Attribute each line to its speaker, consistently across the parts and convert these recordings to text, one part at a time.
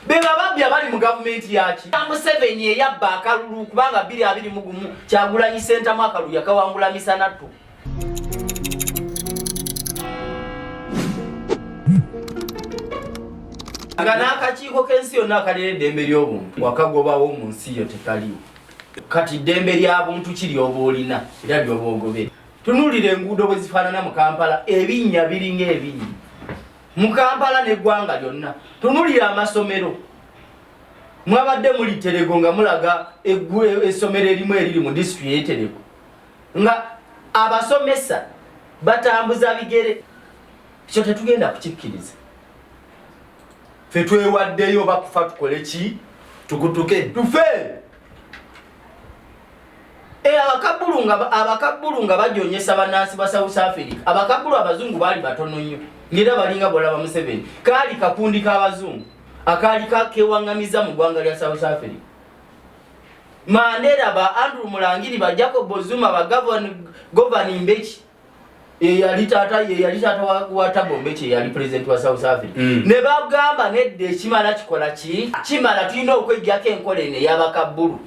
Speaker 1: bebababbi abali mu gavumenti yaki museveni eyabba akalulu kubanga biri abiri mugumu kyagulanyi sentamu akalulu yakawangula misanattu nga n'akakiiko k'ensi yonna akalera eddembe ly'obuntu wakagobawo mu nsi yo tekaliwo kati eddembe lya buntu ki lyoba olina era lyoba ogobere tunuulira enguudo bwe zifaanana mu kampala ebinnya biringa ebinnya mu kampala neggwanga lyonna tunulira amasomero mwabadde muli terego nga mulaga essomero erimu eriri mu disitulikiti yeterego nga abasomesa batambuza bigere ekyo tetugenda kukikkiriza fe twewaddeyo bakufa tukole ki tukutuke tufe Eh, abakabbulu nga abakabbulu nga bajonyesa bannansi ba south africa abakabbulu abazungu baali batono nnyo ngaera balinga bwolaba museveni kaali kakundi k'abazungu akaali kewaŋŋamiza mu ggwanga lya south africa mandera ba andrew mulangiri ba jacob zuma ba govani mbeki eyali taata yeyali taata wa tabo mbeki eyali president wa south africa mm. ne bagamba nedda ekimala kikola ki kimala tulina okwejjako enkola eno eyabakabbulu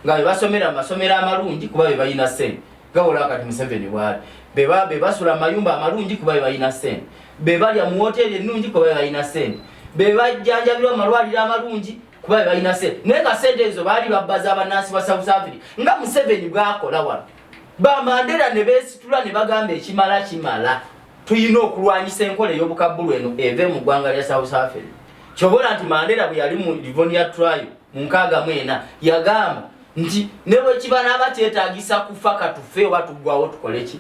Speaker 1: nga bebasomera amasomero amalungi kuba bebalina sente gawola kati museveni bwali beba bebasula amayumba amalungi kuba bebalina sente bebalya mu woteri ennungi kuba bebalina sente bebajjanjabirwa amalwaliro amalungi kuba bebalina sente naye nga sente ezo baali babbaza abanansi ba south africa nga museveni bwakola wano bamandera ne beesitula ne bagamba ekimala kimala tulina okulwanyisa enkola ey'obukabbulu eno eve mu ggwanga lya south africa kyobola nti mandera bwe yali mu livonia trial mu nkaaga mu ena yagamba nti ne bwe kiba naaba kyetaagisa kufa katufe oba tuggwawo tukole ki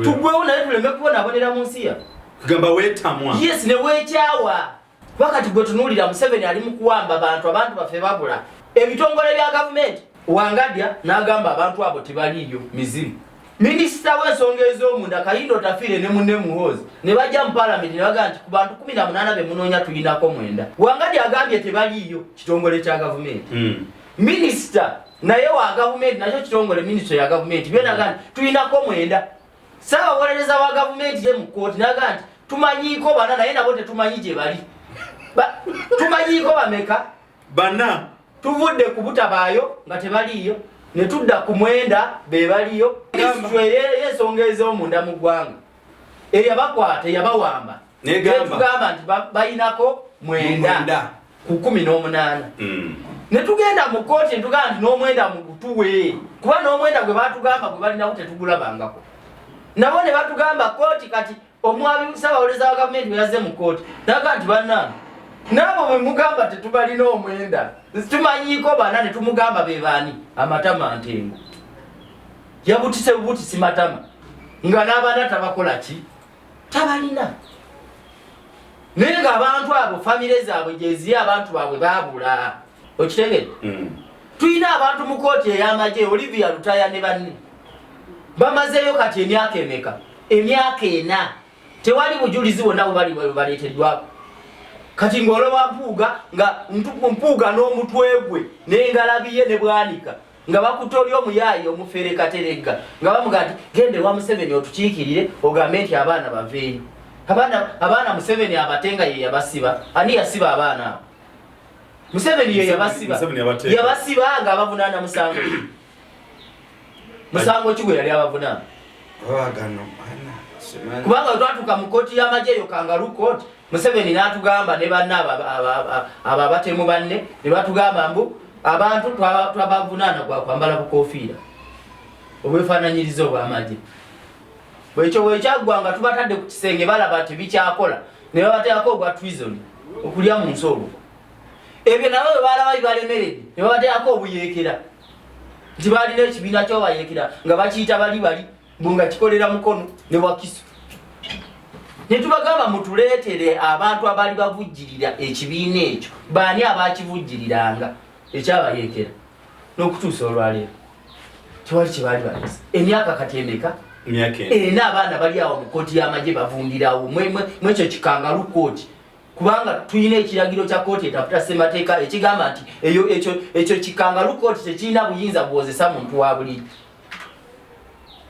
Speaker 1: tuggwewo naye tuleme kubonabonera mu nsi ya kugamba weetamwa
Speaker 2: yes ne weekyawa
Speaker 1: kuba kati gwe tunuulira museveni ali mu kuwamba bantu abantu baffe babula ebitongole bya gavumenti wangadya n'agamba abantu abo tebaliiyo mizimu minisita w'ensonga ez'omunda kayindo tafiire ne munne muhoozi ne bajja mu palamenti ne bagaa nti ku bantu kumi na munaana be munoonya tulinako mwenda wangadya agambye tebaliiyo kitongole kya gavumenti hmm. minisita naye wa gavumenti nakyo kitongole minisita ya gavumenti byona gandi tulinako mwenda Ssaabawolereza wa gavumenti ye mu kkooti naga nti tumanyiiko bana naye nabo tetumanyi gye bali. Tumanyiiko bameka? Bana.
Speaker 2: Tuvudde
Speaker 1: kubutabaayo nga tebaliiyo ne tudda ku mwenda be baliyo. Minisitule ey'ensonga ez'omunda mu ggwanga eyabakwata eyabawamba netugamba nti bayinako mwenda ku kumi n'omunaana mm. ne tugenda mu kkooti ntugamba nti n'omwenda mugutuwe kuba n'omwenda gwe batugamba gwe balinawo tetugulabangako nabo ne batugamba kkooti kati omwami ssabawolereza wa gavumenti bwe yazze mu kkooti naga nti bannange naabo bwe mugamba tetubalina omwenda tumanyiiko bana ne tumugamba be baani amatama ntengo yabutise bubutisi matama nga n'abaana tabakola ki tabalina naye nga abantu abo famire zaabwe gyeziri abantu baabwe babula okitegede mm. tulina abantu mu kooti ey'amagye olivia lutaya ne banne bamazeeyo kati emyaka emeka emyaka ena tewali bujulizi bwonna bubaleeteddwako kati ng'olowa mpuuga nga mpuuga n'omutwe gwe n'engalabiye ne bwanika nga bakutte oli omuyaayi omufere kateregga nga bamuga nti genda ewa museveni otukiikirire ogambe nti abaana baveeyo abaana abaana museveni abate nga ye yabasiba ani yasiba abaana abo museveni ye yabasiba yabasiba nga abavunaana musango musango ki gwe yali abavunaana kubanga twatuuka mu kkooti y'amagye eyo kangalu kooti Museveni n'atugamba ne banne abo abatemu banne ne batugamba mbu abantu twabavunaana gwa kwambala bukoofiira obwefaananyiriza obw'amagye bwekyo bwekyaggwa nga tubatadde ku kisenge balaba nti bikyakola ne babateekako ogwa twison okulya mu nsi olwo ebyo nabo bwe baalaba bibalemeredde ne babateekako obuyeekera nti baalina ekibiina kyobayeekera nga bakiyita bali bali mbu nga kikolera mukono ne wakiso ne tubagamba mutuleetere abantu abaali bavujjirira ekibiina ekyo baani abaakivujjiriranga ekyabayeekera n'okutuusa olwaleero tewali kye baali balesa emyaka kati emeka ena abaana bali awo mu kooti y'amagye bavundirawo mwekyo kikangalu kooti kubanga tulina ekiragiro kya kooti etaputa ssemateeka ekigamba nti ekyo kikangalu kooti tekirina buyinza buwozesa muntu wa buliri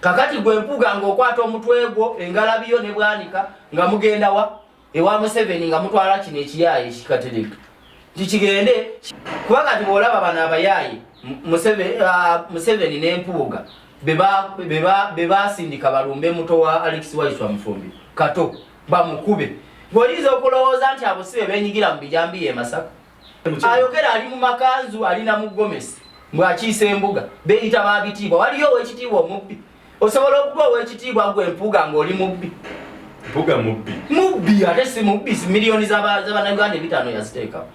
Speaker 1: kakati gwe mpuga nga okwata omutwe gwo engalabi yo ne bwanika nga mugenda wa ewa museveni nga mutwala kino ekiyaaye kikatereka tikigende kuba kati bwolaba bano abayaaye ah, museveni nempuuga bebasindika balumbe muto wa alex waiswa mufumbi kato bamukube bwoyinza okulowooza nti abo si bebenyigira mu bijambiya emasaka ayogera ali mu makanzu ali na mugomesi mbwakiisa embuga beyita babitiibwa waliyo owekitiibwa omubbi osobola okuba owekitiibwa gwe mpuga ngaoli mubbi mpuga
Speaker 2: mubbi mubbi
Speaker 1: ate si mubbi si miliyoni zabanauganda ebitano yaziteekawo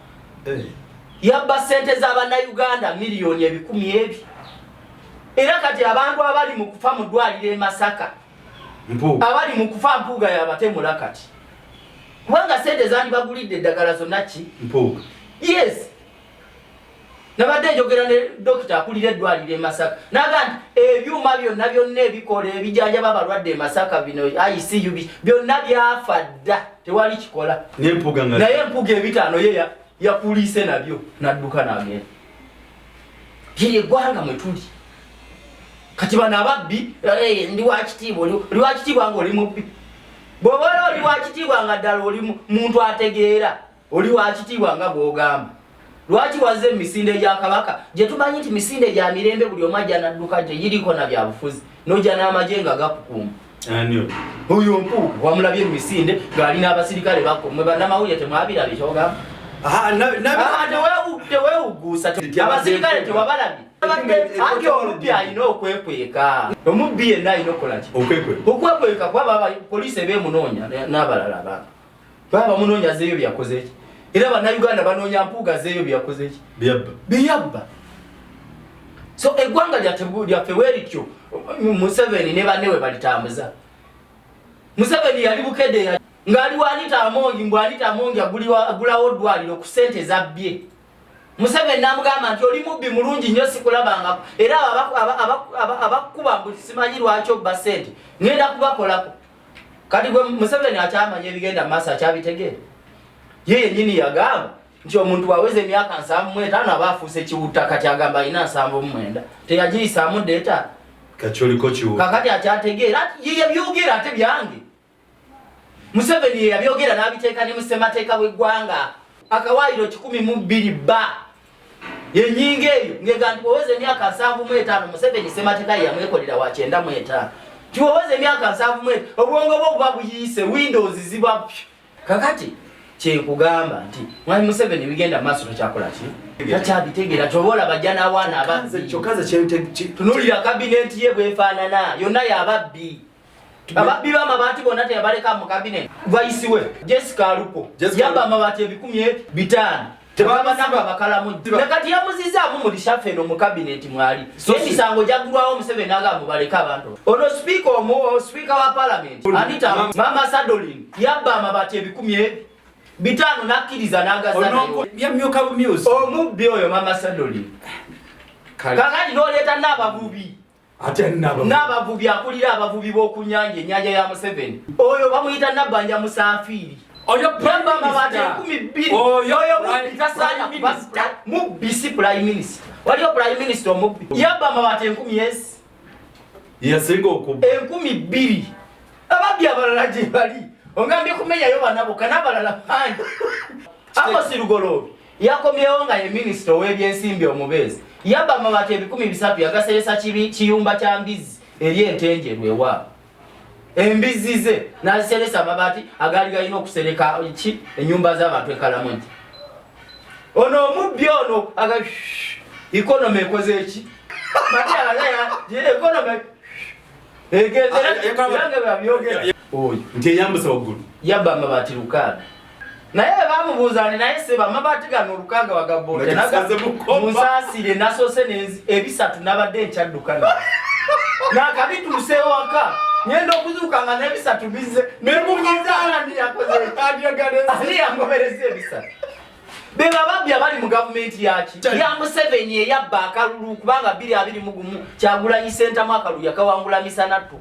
Speaker 1: eh. yabba sente zabanauganda miliyoni ebikumi ebyo era kati abantu abali mu kufa mu ddwaliro e masaka abali mu kufa mpuuga yabatemula kati kubanga sente zandibagulidde eddagala zonna ki mpuuga
Speaker 2: yes
Speaker 1: nabadde njogera ne dokita akulira eddwaliro emasaka naga nti ebyuma byonna byonna ebikola ebijanjaba abalwadde emasaka bino icub byonna byafa dda tewali kikola naye empuga ebitaano ye yakuliise nabyo nadduka nagenda ye eggwanga mwetuli kati bano ababbi eh, ndi wakitiibwa oli wakitiibwa nga oli mubbi bwoba oli oli wakitiibwa nga ddala oli muntu ategeera oli wakitiibwa nga bwogamba lwaki waze emisinde gya kabaka gye tumanyi nti misinde gya mirembe buli omu ajja nadduka gye giriko na byabufuzi nojja n'amagye nga gakukuuma oyo mpuuga wamulabye mumisinde ngaali n'abasirikale bakomwe banamawulire temwabirabye kyogamba tewewuguusa abasirikale tewabalabye anti omubbi alina okwekweka omubbi yenna alina okukolaki okwekweka kuba poliisi eba emunoonya n'abalala abantu Baba munonya zeyo byakoze ki? Era bana Uganda banonya mpuga zeyo byakoze ki? Biyabba. Biyabba. So egwanga lya tebu lya feweri kyo Museveni ne banewe balitambuza. Museveni yali bukede ya ngali walita amongi mbwalita amongi aguliwa agulawo dwaliro ku sente za bye. Museveni namugamba nti oli mubbi mulungi nnyo sikulabangako era abakuba mbu simanyi lwaki obba sente ngenda kubakolako kati gwe museveni akyamanya ebigenda mu maaso akyabitegeera ye yenyini yagamba nti omuntu waweza emyaka nsanvu mu etaano aba afuuse kiwutta kati agamba alina nsanvu mu mwenda teyagiyisaamu deeta kakati akyategeera ye yabyogera ate byange museveni ye yabyogera n'abiteeka ne mu ssemateeka w'eggwanga akawaayiro kikumi mu bbiri bba enyinga eyo ngega nti weweza emyaka nsanvu mu etaano museveni sematika yeyamwekolera wa kyenda mu etaano tiweweza emyaka nsanvu mu etaano obwongo bwo buba buyiise windows ziba py kakati kyekugamba nti mwami museveni bigenda maaso takyakola ki takyabitegeera kyoba olaba jja n'awaana ababbi kyokka nze kyetunulira kabineti ye bwefaanana yonna yababbi ababbi b'amabaati bonna teyabaleka mu kabineeti vayisi we jessica alupo yabba amabaati ebikumi e bitaano tebabanaba bakalamu ne kati yamuzizaamu mu lishafe eno mu kabineeti mwali emisango gyaggulwawo museveni agamba baleke abantu ono sipiika omu sipiika wa palamenti anita mama sadolin yabba amabaati ebikumi e bitaano n'akkiriza n'agazanayo
Speaker 2: omubbi oyo mama
Speaker 1: sadolin kakati n'oleeta n'ababubi n'abavubi akulira abavubi b'okunyanja enyanja ya museveni oyo bamuyita nabbanja musaafiiri mubisi prime minister waliyo prime minister omubbi yabba amabati enkumi esi
Speaker 2: yasinga okubba enkumi bbiri
Speaker 1: ababbi abalala gye bali ongambye kumenyayo banabo kanabalala bangi ako sirugoloobi Yakomyewo nga ye minisita ow'ebyensimbi omubeezi yabba amabaati ebikumi bisatu yagaseresa kiyumba kya mbizzi eri entenjeru ewaabwe embizzi ze n'aziseresa amabaati agaali galina okusereka ki ennyumba z'abantu ekalamugi ono omubbi ono aga ikonomi ekoze eki ikonomi egenzeerange babyogera oyo nti eyambusa waggulu
Speaker 2: yabba amabaati
Speaker 1: lukaaga naye bebamubuuza nti naye seba amabaati gano olukaaga wagaboote musaasire nasoose ebisatu nabadde nkyaddukana nakabituuse ewaka ngenda okuzuuka nga nebisatu bizze nemubizaandiyakozeandiyakobereza ebisatu bebababbi abali mu gavumenti yaki ya museveni eyabba akalulu kubanga biri abiri mugumu kyagulanyi sentamu akalulu yakawangula misanattu